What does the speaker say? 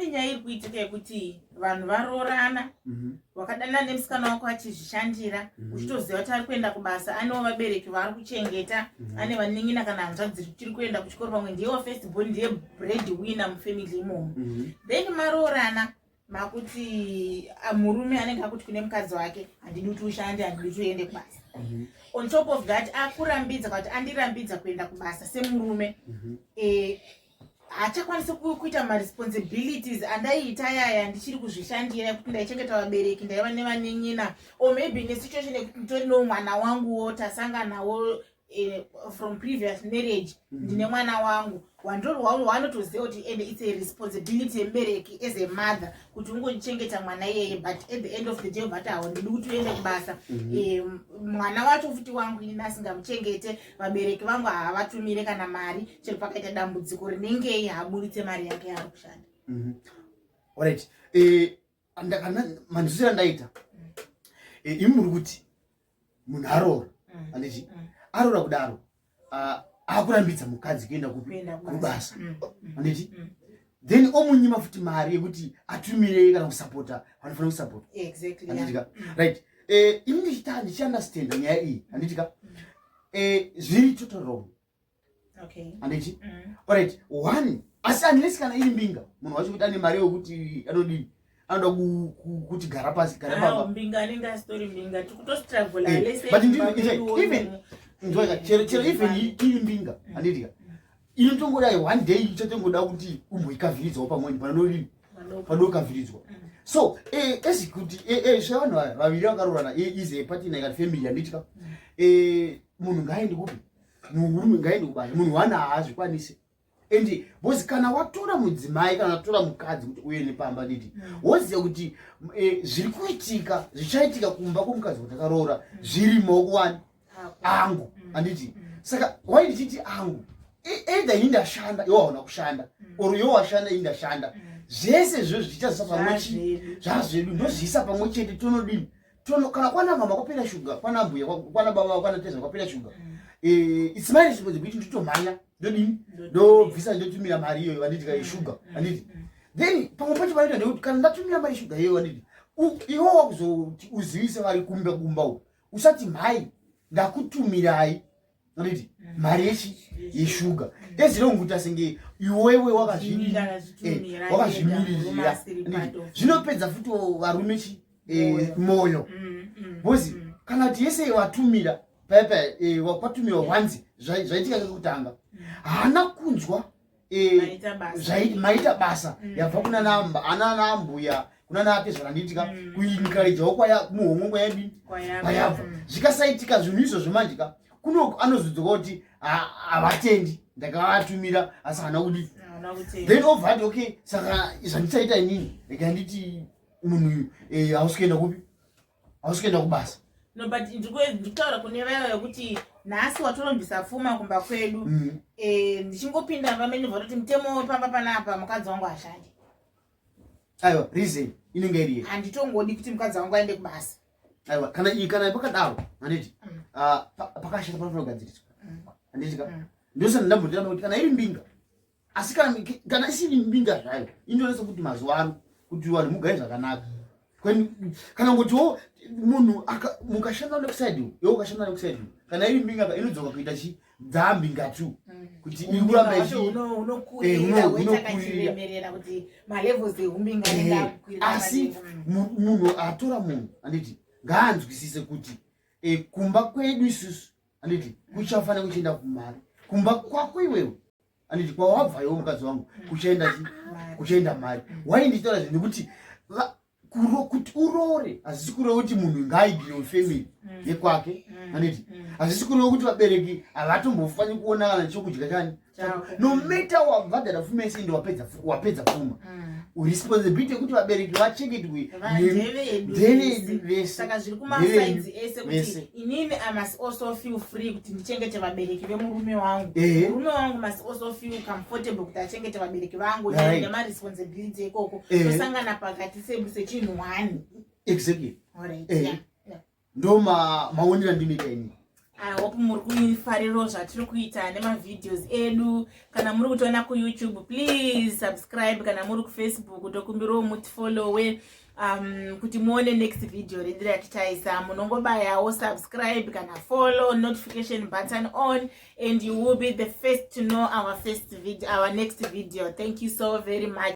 Nyaya iri kuitika yekuti vanhu varoorana mhm. wakadana nemusikana wako achizvishandira mhm. uchitoziva kuti ari kuenda kubasa anewo vabereki vaari kuchengeta mhm. ane vanin'ina kana hanzvadzi tiri kuenda kuchikoro pamwe ndiyewo first born ndiye bread winner mufamily imomo then maroorana makuti ah, murume anenge akuti kune mukadzi wake handidi kuti ushande handidi kuti uende kubasa mhm. on top of that akurambidza kuti andirambidza kuenda kubasa semurume mhm. eh, hachakwanisi kuita maresponsibilities andaiita yaya ndichiri kuzvishandira yekuti ndaichengeta vabereki ndaiva nevanenyina or maybe nesituation yekuti nditori no mwana wanguwo tasanganawo eh, from previous marriage mhm. ndine mwana wangu wandorwawo wanotoziva kuti and its a responsibility yemubereki as a mother kuti ungochengeta mwana iyeye but at the end of the day vati hawo ndidi kuti uende kubasa mhm. eh, mwana wacho futi wangu ini asingamuchengete vabereki vangu havatumire kana mari chero pakaita dambudziko rinengei haburitse mari yake yaari kushanda mhm. orit eh, manzwisira ndaita mm. eh, imi muri kuti munhu aroora mm. anditi mm. aroora kudaro ah, akurambidza mukadzi kuenda kubasa anditi then omunyima futi mari yekuti atumire kana kusapota vanofanira kusapota anditika right eh, imi ndichita ndichiunderstanda nyaya iyi anditika zviri total wrong anditi mm. orit one asi unless kana iri mbinga munhu wacho kuti ane mari yokuti anodii anoda kuti gara pasi gara papaeven chero even iri mbinga mm. andidika mm. inotongoda one day ichatongoda kuti umboikavhiridzawo pamweni panodii padokavhiridzwa so eh, as kuti eh, eh, zvevanhu vaviri vakarorana is a partner ikati family yanditya munhu ngaaende kupi murume ngaende kubasa munhu wana haazvikwanise and bcoz kana watora mudzimai kana watora mukadzi kuti uye nepamba didi mm. woziva kuti eh, zviri kuitika zvichaitika kumba kwomukadzi kuti akaroora mm. zviri maoko wani angu mm. anditi saka wai ndichiti angu e, either ini ndashanda iwo hauna kushanda or iwo washanda ini ndashanda zvese zvo zvichazisa pamwe chii zvazvedu ndozviisa pamwe chete tonodini tono kana kwana mama kwapera shuga kwana mbuya kwana baba kwana teza kwapera shuga mm. eh it's my responsibility to tomanya ndodini ndobvisa ndotumira mari iyoyo vanditi kai shuga mm. vanditi mm. then pamwe pacho vanoita ndekuti kana ndatumira mari shuga iyoyo vanditi iwo wakuzoti uzivise vari kumba kumba uko usati mhai ndakutumirai Ridi, mm. mari yechi yeshuga mm. ezironguta senge iwewe wakazvimiririra eh, zvinopedza futi varume chi eh, moyo bcozi mm, kana kuti yese watumira paipa eh, wakwatumirwa wanzi zvaitika kekutanga haana kunzwa eh, maita basa mm. yabva kuna namba ana nambuya kuna naatezvara ndiitika mm. kuinkarejao kwaya muhomwe kwayadini kwayabva mm. zvikasaitika zvinhu izvo zvemanje ka kuno anozodzoka kuti havatendi ndakavatumira asi hana kudii then ovati okay saka zvandisaita inini rega nditi munhu uyu eh, hausi kuenda kupi hausi kuenda kubasa no but ndikutaura kune vaya vekuti nhasi watorombisa pfuma kumba kwedu mm. eh, ndichingopinda pamene vatoti mutemo wepamba panapa mukadzi wangu ashandi aiwa reason inenge iriye handitongodi kuti mukadzi wangu aende kubasa aiwa kana iyi kana pakadaro handiti mm. ah, pakashata panofanira kugadziriswa mm. handiti ka ndosana ndambotira kuti kana iri mbinga asi kana isiri mbinga zvayo inonetsa kuti mazuva ano kuti vanhu mugare zvakanaka kana ngotiwo munhu mukashanda nekuside yo ukashanda nekuside kana iri mbinga inodzoka kuita chi dzambi ngatu mm. kuti ikuramba ichiasi munhu atora munhu anditi ngaanzwisise kuti eh, kumba kwedu isusu anditi kuchafanira kuchienda kumari kumba kwako iwewe anditi kwawabva iwo mukadzi wangu kuchaenda chi kuchaenda mari why ndichitaura zvinhu nekuti kuti uroore hazvisi kureva kuti munhu ngaaigire wefamily mm. yekwake mm. anditi mm. hazvisi kureva kuti vabereki havatombofanyi kuona kana chokudya chani no matter wavadara fumese ende wapedza pfuma mm. responsibility yekuti vabereki vachengedwe ndevedu vesesaka zviri kumasaidzi ese kuti inini i must also feel free kuti ndichengete vabereki vemurume wangu murume wangu must also feel comfortable kuti achengete vabereki vangu nemaresponsibility ikoko tosangana pakati sechinhu one exactly ndo maonera ma ndinoita ini i hope muri kuifariro zvatiri kuita nemavideos edu kana muri kutiona kuyoutube please subscribe kana muri kufacebook tokumbirawo mutifollowe um, kuti muone next video redu ratichaisa munongobayawo subscribe kana follow notification button on and you will be the first to know our first video our next video thank you so very much